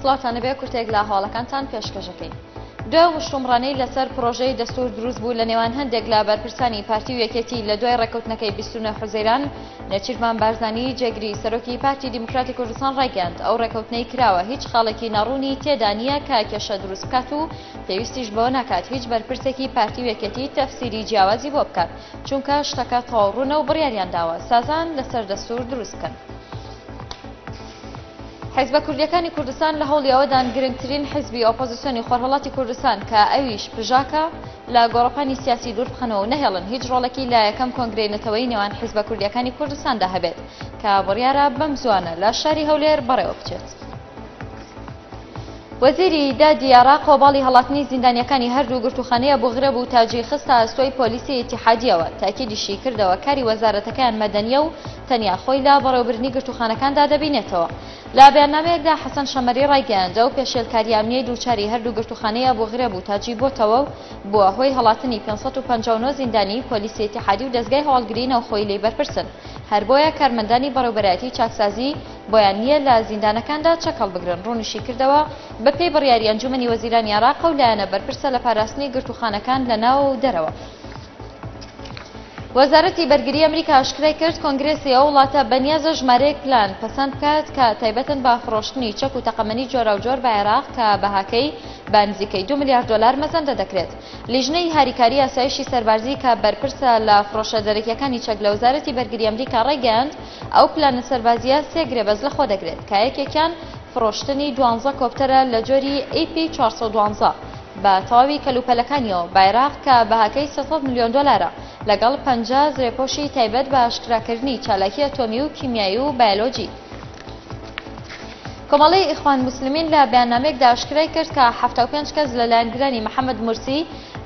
سڵاتان بێ کورتێک لە هەواڵەکانتان پێشکەشەکەی دوای وشتومڕانەی لەسەر پرۆژەی دەستور دروست بوو لە نێوان هەندێک لە بەرپرسانی پارتی و یەکێتی لە دوای ڕێکوتنەکەی 29 حوزەیران نەچیرمان بارزانی جێگری سەرۆکی پارتی دیموکراتی کوردستان ڕایگەاند ئەو ڕێکوتنەی کراوە هیچ خاڵێکی ناڕوونی تێدا نییە کە کێشە دروست بکات و پێویستیش بەوە ناکات هیچ بەرپرسێکی پارتی و یەکێتی تەفسیری جیاوازی بۆ بکات چونکە شتەکە تەواو ڕوونە و بڕیاریان داوە سازان لەسەر دەستور دروست بکەن. حیزبە کوردیەکانی کوردستان لە هەوڵی ئەوەدان گرنگترین حیزبی ئۆپۆزیسیۆنی خۆرهەڵاتی کوردستان کە ئەویش پژاکە لە گۆڕەپانی سیاسی دوور بخەنەوە و نەهێڵن هیچ ڕۆڵێکی لە یەکەم کۆنگرەی نەتەوەی نێوان حیزبە کوردیەکانی کوردستاندا هەبێت کە بڕیارە بەم زوانە لە شاری هەولێر بەڕێوە بچێت. وەزیری دادی عێراق وەباڵی هەڵاتنی زیندانییەکانی هەردوو گرتووخانەی ئەبو غرێب و تاجی خستە ئەستۆی پۆلیسی ئیتیحادییەوە، تاکیدیشی کردەوە کاری وەزارەتەکەیان مەدەنییە و تەنیا خۆی لە بەڕێوەبردنی گرتووخانەکاندا دەبینێتەوە. لە بەیاننامەیەکدا حەسەن شەمەری ڕایگەیاند، ئەو پێشێلکارییە ئەمنییەی دووچاری هەردوو گرتووخانەی ئەبو غرێب و تاجی بۆتەوە و بووە هۆی هەڵاتنی پێنج سەد و پەنجا و نۆ زیندانیی پۆلیسی ئیتیحادی و دەزگای هەواڵگریی ناوخۆیی لێی بەرپرسن، هەر بۆیە کارمەندانی بەڕێوبەرایەتیی چاکسازیی بۆیان نییە لە زیندانەکاندا چەک هەڵبگرن. ڕوونیشیکردەوە، بەپێی بڕیاری ئەنجوومەنی وەزیرانی عێراق، ئەو لایەنە بەرپرسە لە پاراستنی گرتووخانەکان لە ناوەوە و دەرەوە. وەزارەتی بەرگری ئەمریکا ئاشکرایکرد، کۆنگرێسی ئەو وڵاتە بەنیازە ژمارەیەک پلان پەسەند بکات کە تایبەتن بە فڕۆشتنی چەک و تەقەمەنی جۆراوجۆر بە عێراق کە بەهاکەی بە نزیکەی دوو ملیار دۆلار مەزەندە دەکرێت. لیژنەی هاریکاری ئاسایشی سەربازی کە بەرپرسە لە فڕۆشە دەرەکییەکانی چەک لە وەزارەتی بەرگری ئەمریکا ڕایگەیاند، ئەو پلانە سەربازییە سێ گرێبەست لەخۆ دەگرێت، کە یەکێکیان فرۆشتنی دوانزە کۆپتەرە لە جۆری ئەی پی چوار سەد و دوازدە بە تەواوی کەلوپەلەکانییەوە بە عێراق کە بەهاکەی سێ سەد ملیۆن دۆلارە، لەگەڵ پەنجا زرێپۆشی تایبەت بە ئاشکراکردنی چالاکی ئەتۆمی و کیمیایی و بایەلۆجی. کۆمەڵەی ئیخوان موسلمین لە بەیاننامەیەکدا ئاشکرای کرد کە حەفتا و پێنج کەس لە لایەنگرانی محەمەد مورسی،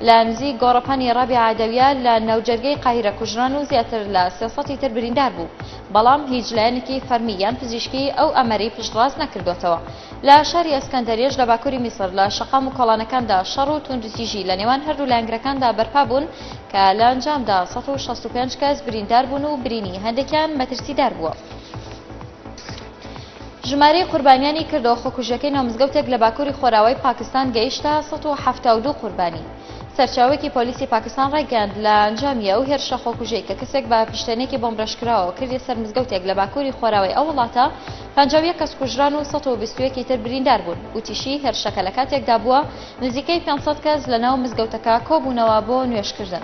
لە نزیک گۆڕەپانی ڕابی عەدەویە لە ناوجەرگەی قاهیرە کوژران و زیاتر لە سێ سەتی تر بریندار بوو، بەڵام هیچ لایەنێکی فەرمی یان پزیشکی ئەو ئامەرەی پشتڕاست نەکردووەتەوە. لە شاری ئەسکەندەریەش لە باکووری میسر لە شەقام و کۆڵانەکاندا شەڕ و توندوتیژی لە نێوان هەردوو لایەنگرەکاندا بەرپا بوون کە لە ئەنجامدا سەد و شەست و پێنج کەس بریندار بوون و برینی هەندێکیان مەترسیدار بووە. ژمارەی قوربانیانی کردەوە خۆکوژیەکەی ناو مزگەوتێک لە باکوری خۆراوای پاکستان گەیشتە سەد و حەفتا و دوو قوربانی. سەرچاوەیەکی پۆلیسی پاکستان ڕایگەیاند، لە ئەنجامی ئەو هێرشە خۆکوژەی کە کەسێک بە فیشتێنێکی بۆمب ڕێژکراوەوە کردیە سەر مزگەوتێک لە باکوری خۆراوای ئەو وڵاتە، پەنجا و یەک کەس کوژران و سەد و بیست و یەک ی تر بریندار بوون. وتیشی، هێرشەکە لە کاتێکدا بووە، نزیکەی پێنج سەد کەس لە ناو مزگەوتەکە کۆبوونەوە بۆ نوێژکردن.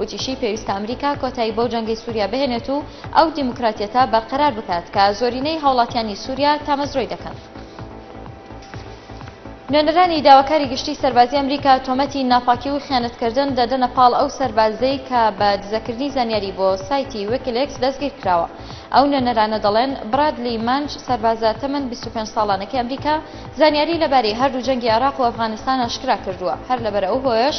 وتیشی، پێویستە ئەمریکا کۆتایی بەو جەنگەی سوریا بهێنێت و ئەو دیموکراتیەتە بەرقەرار بکات کە زۆرینەی هاوڵاتیانی سوریا تامەزرۆی دەکەن. نوێنەرانی داواکاری گشتی سەربازی ئەمریکا تۆمەتی ناپاکی و خیانەتکردن دەدەنە پاڵ ئەو سەربازەی کە بە دزەکردنی زانیاری بۆ سایتی ویکیلیکس دەستگیرکراوە. ئەو نوێنەرانە دەڵێن، برادلی مەنج، سەربازە تەمەن بیست و پێنج ساڵانەکەی ئەمریکا زانیاری لەبارەی هەردوو جەنگی عێراق و ئەفغانستان ئاشکراکردووە، هەر لەبەر ئەو هۆیەش